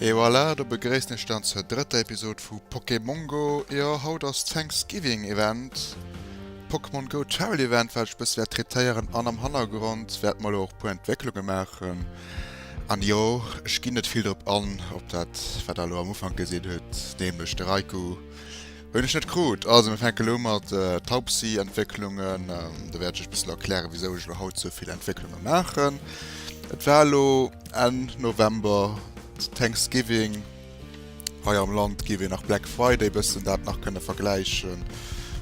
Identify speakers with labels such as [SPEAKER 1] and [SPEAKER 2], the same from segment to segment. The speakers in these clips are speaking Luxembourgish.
[SPEAKER 1] Et voilà, do begréissen ech dann zur drëtter Episode vu Pokémongo. Jo, haut ass Thanksgiving Event, Pokémon Go Travel Event, wat ech e bësse wäert traitéieren an am Hannergrond wäerte mer lo och e puer Entwécklunge maachen. An jo, ech ginn net vill drop an, op dat wat der lo am Ufank gesinn hutt, nämlech de Raikou. Hunn ech net krut. Also mir fänke lo mat Taubsi Entwécklungen un. Da wäert ech iech bëssen erklären wisou ech lo haut sou vill Entwécklunge maachen. Et war lo Enn November Thanksgiving hei am Land, géif een nach Black Friday bëssen dat nach kënne vergläichen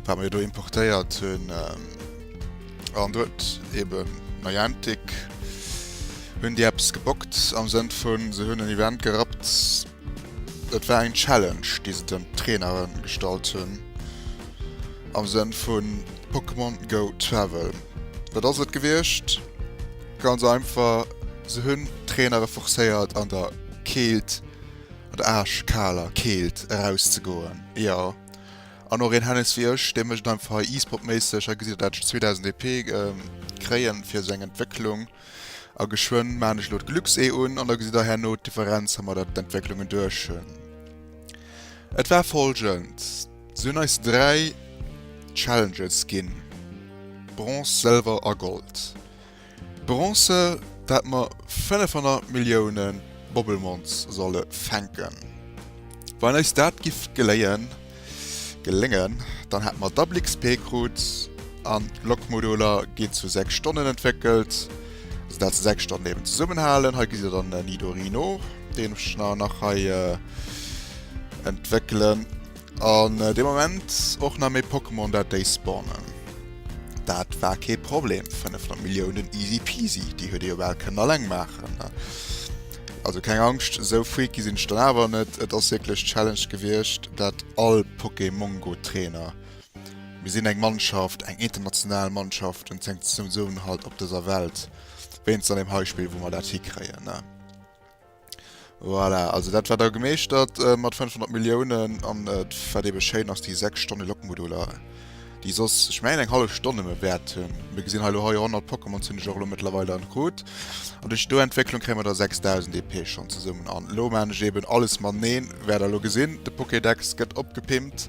[SPEAKER 1] wat mer jo do importéiert hunn. An do huet eben Niantic hunn déi eppes gebockt am Sënn vun se hunn en Event gerappt. Et war eng Challenge déi se den Trainere gestallt hunn am Sënn vu Pokémon Go Travel. Wat ass et gewiescht? Ganz einfach, se hunn d'Trainere forcéiert an der Keelt, an der aarschkaler Keelt eraus ze goen. Jo, an och een Hennes wéi ech, dee mécht einfach hei e-sport méisseg, hei gesitt Dir dat, 2000 EP kréien fir seng Entwécklung. A geschwënn maachen ech elo d'Glücks-E un, an da gesitt der herno d'Differenz, ha mer der d'Entwécklungen duerch hunn. Et war folgend, Si hunn eis dräi Challenges ginn, Bronze, Sëlwer a Gold. Bronze, do hätte mer 500 Milliounen Bobbelmonz solle fänken. Wann eis dat giff geléien, Geléngen, dann hätte mer Double XP krut an Lokmoduler gin zu 6 Stonnen entwéckelt, sou dat se 6 Stonnen eben zesummen halen. Hei gesi se dann den Nidorino, deen ech mer nach hei entwéckelen an dee Moment och nach méi Pokémon dat déi spawnen. Dat war kee Problem, 500 Milliounen easy peasy, déi huet ee jo bal kënnen alleng maachen. Also keng Angscht, esou freaky sinn ech dann awer net. Et ass wierklech d'Challenge gewiescht, dat all Pokémongo-Trainer, mir sinn eng Mannschaft, eng international Mannschaft, en zeng Zesummenhalt op dëser Welt, wéinst an deem hei Spill, wou mer dat hikréien, ne? Voilà, also dat war da gemeeschtert mat 500 Milliounen, an wat eebe schéin ass, déi sechs Stonne Lokmoduler. déi soss ech mengen eng hallef Stonn nëmme wäert hunn, mir gesinn hei elo hei 100 Pokémons hunn ech och elo mëttlerweil dann krut, an duerch do Entwécklung kréie mer da 6000 EP schonn zesummen an elo maachen ech eben alles maneen, wäert der elo gesinn, de Pokédex gëtt opgepimpt,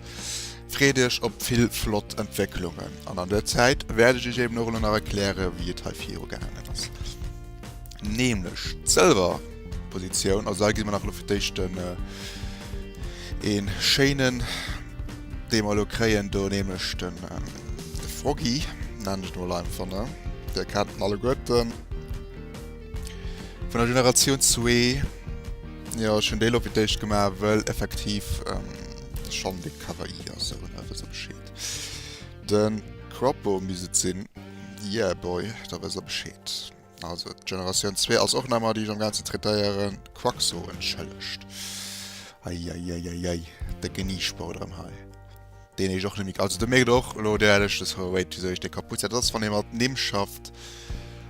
[SPEAKER 1] freet iech op vill flott Entwécklungen an an der Zäit wäert ech iech eben och elo nach erkläre wéi et hei viru gaangen ass, nämlech d'Sëlwer. Positioun. Also hei gesi mer nach elo fir d'éischt en een schéinen dee mer elo kréien do nämlech den de Froggy nennen ech mol einfach ne dee kennt en alleguerten vun der Generatioun zwee. Jo ech hunn dee elo fir d'éischt gemaach wëll effektiv de Schong dee Kawaii ass sou ne wëss e Bescheed. Den Croppo misst et sinn yeah boy da wëss der Bescheed. Also d'Generatioun zwee ass och nemmer déi ech am gaanzen traitéieren. Quaxo entschëllegt. Eieieiei, décke Niesprou drëm hei. Deen heescht och Nick. Also du mierkt och elo deen leschte Throw Away wisou ech dee kaputt setzen. Dat ass wann ee mat Nimm schafft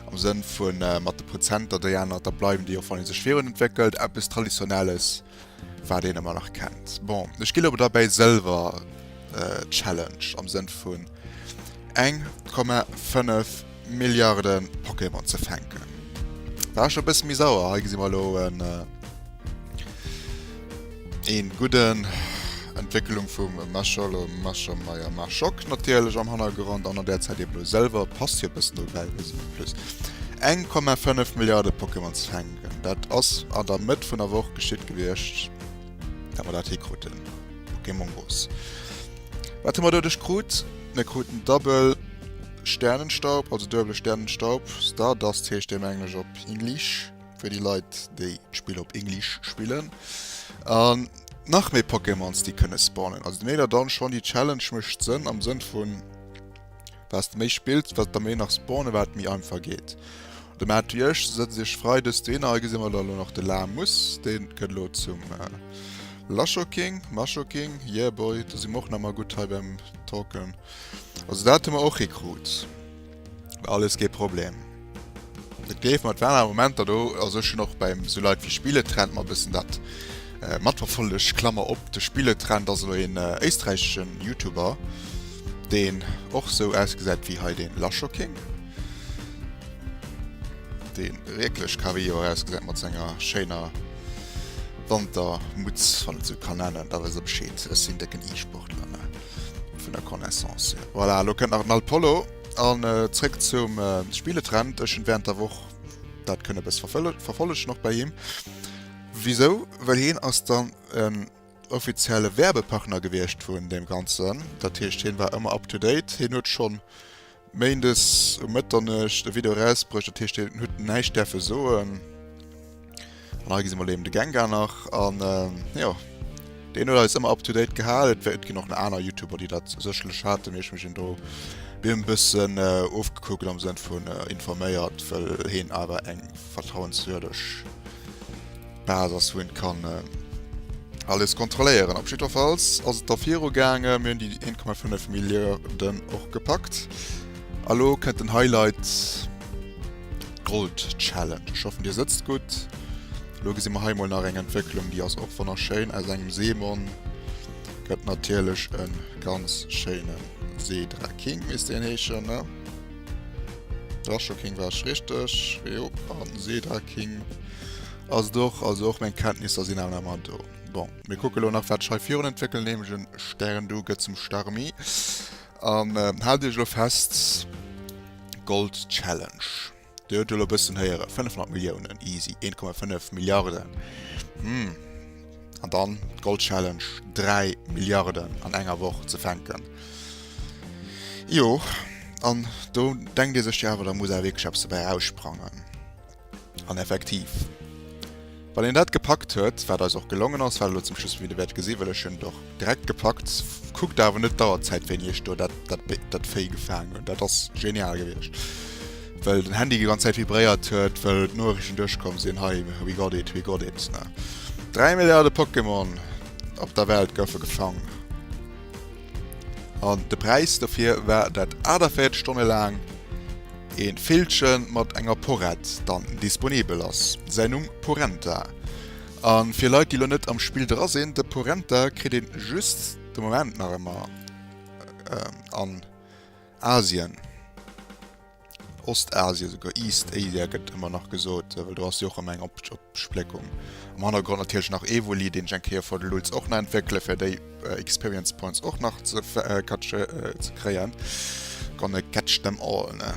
[SPEAKER 1] am Sënn vu mat de Prozenter. Déi aner da bleiwen déi och wann ee sech virun entwéckelt. Eppes Traditionelles. Wat een emmer nach kennt. Bon, ech ginn ower derbäi sëlwer Challenge am Sënn vun 1,5 Milliarde Pokémon ze fänken. War scho e bësse méi sauer, hei gesi mer elo en ee gudden Entwécklung vum Masholo, Maschomeier, Maschok natierlech am Hannergrond an an där Zäit eben elo sëlwer. Passt jo e bëssen dobäi, wéi se plus 1,5 Milliarde Pokémon ze fänken. Dat ass an der Mëtt vun der Woch geschitt gewiescht, dat mer dat hee kruten. Pokémon Mongoose. Wat hu mer doduerch krut? Mir kruten Double Sternenstaub, also duebele Sternenstaub, Stardust heescht dee um Englesch op English, fir déi Leit, déi d'Spill op English spillen. An nach méi Pokémons, déi kënne spawnen. Also de Megadan schonn, déi Challenge mécht Sënn am Sënn vun, Wat de méi spillt, wat der méi nach spawnen, wat méi einfach geet. De Matt wéi ech sëtz ech frei dës Deen a gesi mer da lo nach de La muss. Dee gëtt lo zum äh, Laschoking, Maschoking, yeah boy, do si mer och nach mal gutt hei beim Talken. Also dat hu mer och hikrut, alles kee Problem. Et géif mat waren awer Momenter do, also ech hunn och beim esou Leit wéi Spieletrend mer e bëssen dat matverfollegt, Klammer op, de Spieletrend ass elo een éisträicheschen Youtuber, deen och esou ausgesäit wéi hei den Lashocking, deen wierklech kawaii ausgesäit mat senger schéiner Wantermutz, wann et esou kann nennen, da wësst der Bescheed, ech sinn décken E-Sportler, ne, vun der Connaissance hier. Voilà, elo kënnt nach den Alpollo. An zréck zum Spieletrend, ech hunn während der Woch dat kënne bëss verfollegen och bei him. Wisou? Well hien ass dann en offizielle Werbepartner gewiescht vun deem Ganzen. Dat heescht hien war ëmmer up to date. Hien huet schonn Méindes um Mëtternuecht e Video erausbruecht, dat heescht hien huet näischt däerfe soen. An hei gesi mer eben de Gengar nach an jo. Deen huet eis ëmmer up to date gehal. Et wär et ginn och nach aner Youtuber, déi dat sécherlech haten, mee ech hu mech een do mir en bëssen ofgekuckt am Sënn vun informéiert, well heen awer eng vertrauenswürdeg Bas ass, wou een kann alles kontrolléieren. Op jiddwerfalls ass et da viru gaangen. Mir hunn déi 1,5 Milliarden och gepackt a lo kënnt den Highlight. D'Gold Challenge. Ech hoffen dir sëtzt gutt. Lo gesi mer hei mol nach eng Entwécklung, déi ass och wonner schéin. Aus engem Seemon gëtt natierlech e ganz schéine Seedra King misst deen heeschen ne? Drascho King war ech richteg. Jo an den Seedra King ass et och. Also och meng Kenntnisser sinn awer nach ëmmer do. Bon, mir kucke lo nach wat ech hei virun entwéckelen, nämlech e Stern. Du gëtt zum Starmie. An haalt iech elo fest, Gold Challenge. Dir huet elo e bëssen héieren, 500 Milliounen, easy, 1,5 Milliarden. Hm. An dann d'Gold Challenge, 3 Milliarden an enger Woch ze fänken. Jo, an do denkt ee sech, jo awer da muss awer wierklech eppes dobäi eraussprangen. An effektiv, wann een dat gepackt huet, wat eis och gelongen ass, wat elo zum Schluss vum Video wäert gesi well ech hunn et och direkt gepackt, kuckt awer net d'Auerzäit wéini ech do dat dat Bé dat Véi gefaangen hunn, dat ass genial gewiescht, well den Handy déi ganz Zäit vibréiert huet, well d'Nuerichten duerchkomm sinn, hei we got it, we got it, ne. Dräi Milliarde Pokémon op der Welt goufe gefang. An de Präis dofir war dat 48 Stonne laang ee Villche mat enger Porett dann disponibel ass. Säin Numm, Porenta. A fir Leit déi elo net am Spill dra sinn, de Porenta kritt een just de Moment nach ëmmer an Asien. Ostasien, souguer East Asia gëtt ëmmer nach gesot, well do ass jo och ëmmer eng Opspléckung. Am Hannergrond natierlech nach Evoli, deen ech eng Kéier for the Lulz och nach entwéckele fir déi Experience Points och nach ze catche ze kréien. Gonna catch them all, ne?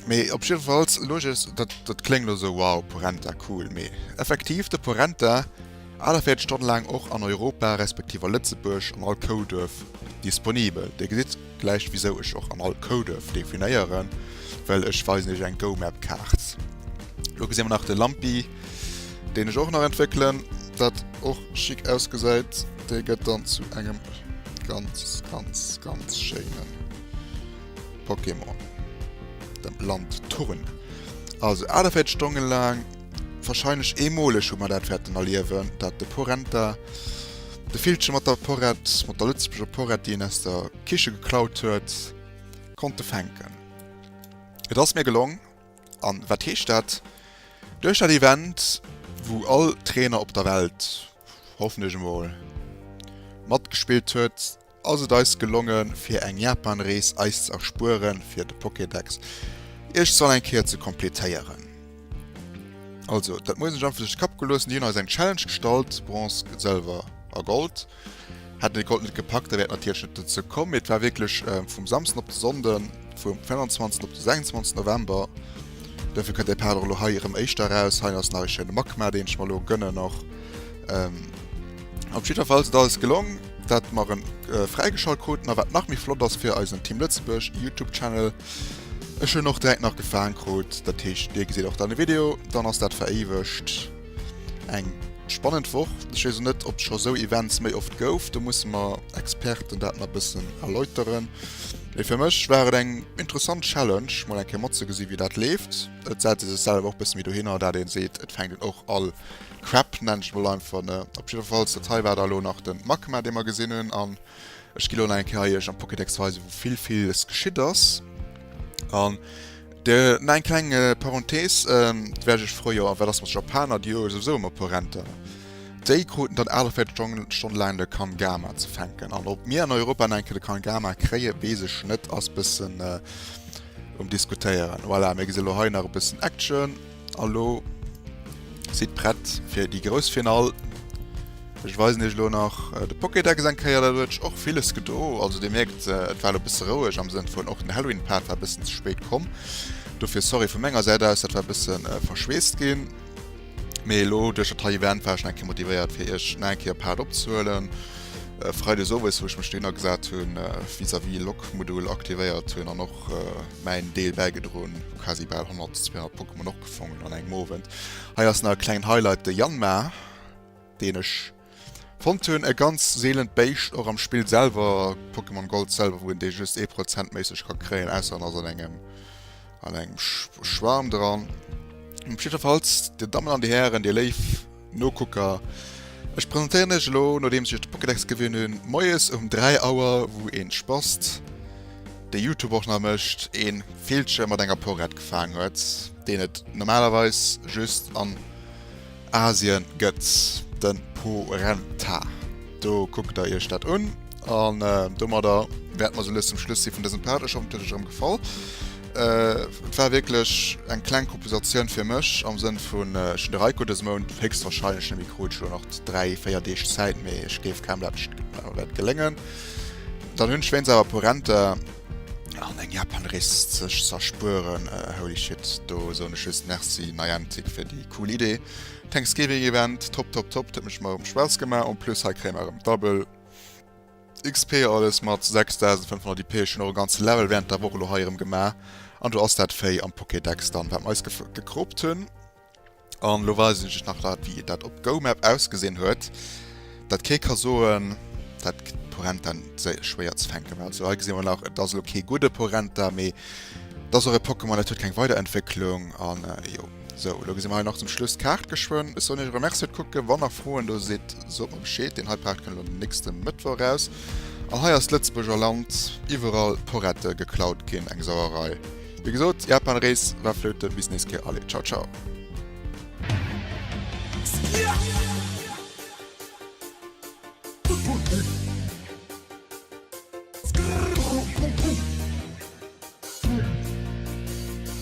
[SPEAKER 1] Mee op jiddefalls, Loges, dat dat kléngt elo esou wow, Porenta, cool, mee effektiv de Porenta, A Der fiert Stonne laang och an Europa respektiv a Lëtzebuerg an all Kouduerf disponibel. Dir gesitt gläich wisou ech och an all Kouduerf definéieren, well ech weisen Iech eng GoMap Kaart. Lo gesi mer nach de Lampi, deen ech och nach entwéckelen, wat och chic ausgesäit. Dee gëtt dann zu engem ganz ganz ganz schéine Pokémon, dem Landturn. Also A Der fiert Stonne laang. Wahrscheinlech eemoleg hu mer dat wäerten erliewen, dat de Porenta de Villche mat der Porett, mat der lëtzebuerger Porett, déi en aus der Kiche geklaut huet, konnte fänken. Et ass mir gelong. A wat heescht dat? Duerch dat Event, wou all Trainer op der Welt, hoffen ech emol, matgespillt huet, Ass et eis gelongen fir eng Japanrees eis ze erspueren fir de Pokédex iech soll eng Kéier ze completéieren. Also dat muss ech einfach duerch de Kapp geloossen. Déi hunn eis eng Challenge gestallt, Bronze, Sëlwer a Gold. Hätten de Gold net gepackt, da wär et natierlech net dozou komm. Mee et war wierklech vum Samsden op de Sonnden, vum 25 op de 26 November. Dofir kënnt däi Part och elo hei erëm éischter eraus. Hei ass nach e schéine Magma, deen ech mer elo gënnen och. Op jiddwerfalls, et ass eis gelong. Wat mer rem fräigeschalt kruten a wat nach méi flott ass fir eisen Team Lëtzebuerg Youtube Channel, ech hunn och direkt nach gefaang krut, dat heescht dir gesitt och dann e Video, dann ass dat veréiwegt. Eng spannend Woch, ech weess och net ob et scho sou Events méi oft gouf, do musse mer Experten dat nach bëssen erläuteren, mee fir mech war et eng interessant Challenge mol eng Kéier matzegesi wéi dat leeft. Et setze sech selwer och bësse méi dohinner, dat ee seet et fänkt een och all Crap nennt ech et mol einfach, ne? Op jiddefalls, dat hei war da elo nach den Magma, dee mer gesinn hunn, an ech gi elo nach eng Kéier iech am Pokédex weisen, wou vill villes geschitt ass. An de, na eng kleng äh, Parenthese, ähm, et wäert iech freuen, jo, a wat ass mat Japaner, déi hu souwisou ëmmer e puer Renten. Déi kruten dann 48 Stongen, Stonne laang de Kangama ze fänken. An ob mir an Europa nach eng Kéier de Kangama kréien, weess ech net, ass e bëssen äh, um Diskutéieren. Voilà, mir gesi elo hei nach e bëssen Action. Elo sidd prett fir déi grouss Finall. Ech weisen iech elo nach de Pokédex eng Kéier, dat huet och villes gedo. Also dir mierkt et war elo bësse roueg am Sënn vun och den Halloween Part war bëssen ze spéit komm. Dofir sorry vu menger Säit aus, dat war bësse verschweesst ginn. Mee elo duerch dat hei Event war ech nach eng Kéier motivéiert fir iech nach eng Kéier Part opzehuelen. Freides owes wou ech mech dohinner gesat hunn vis-à-vis Log Modul aktivéiert hunn an och mäin Deel bäigedroen, quasi bal 100, 200 Pokémon och gefongen an engem Owend. Hei ass nach e klengen Highlight, de Yanma, deen ech fonnt hunn, e ganz seelent Béischt, och am Spill selwer, Pokémon Gold selwer, wou een dee just ee Prozent méisseg ka kréien, ausser en ass an engem, an engem Schwarm dran. Jiddwerfalls, Dir Dammen an Dir Hären, Dir léif. Nokucker, Ech presentéieren iech elo, nodeems ech de Pokédex gewunn hunn, moies um 3 Auer wou een Spast, dee Youtube och nach mécht, een Villche mat enger Porett gefaang huet, deen et normalerweis just an Asien gëtt, den Porenta. Do kuckt der iech dat un, an domadder wäerten mer sou lues zum Schluss sinn vun dësem Part. Ech hoffen et huet iech erëm gefall. Et war wierklech eng kleng Kompensatioun fir mech am Sënn vun ech hunn de Reiko dëse Mount héchstwarscheinlech nëmme krut. Ech hu jo nach dräi, véier Deeg Zäit, mee ech géif kaum dat ech wäert geléngen. Dann hunn ech wéinst awer e puer Rente an eng Japanrees sech z'erspueren, holy shit, do soen ech just Merci Niantic fir déi cool Idee. Thanksgiving Event, top, top, top, dat huet mech ëmmer Spaass gemaach. En plus hei kréie mer erëm d'Double. XP alles mat 6500 IP schon och e ganze Level während der Woch elo hei erem gemaach an do ass dat Véi am Pokédex dann wat mer eis gekroopt hunn an elo weisen ech iech nach dat wéi dat op GoMap ausgesinn huet dat kee ka soen dat Porenta séier schwéier ze fänken war. Also hei gesi mer nach et ass elo kee gudde Porenta mee et ass och e Pokémon dat huet keng Weiderentwécklung an jo. Sou, elo gesi mer hei nach zum Schluss d'Kaart geschwënn. Ech soen iech erëm Merci fir d'Kucken. Wann nach Froen do si sot mer Bescheed. Deen hei Part kënnt elo den nächste Mëttwoch eraus. A hei ass d'Lëtzebuerger Land iwwerall Porette geklaut ginn. Eng Sauerei. Wéi gesot, Japanrees war Flöte. Bis nächst Kéier. Allez, ciao ciao.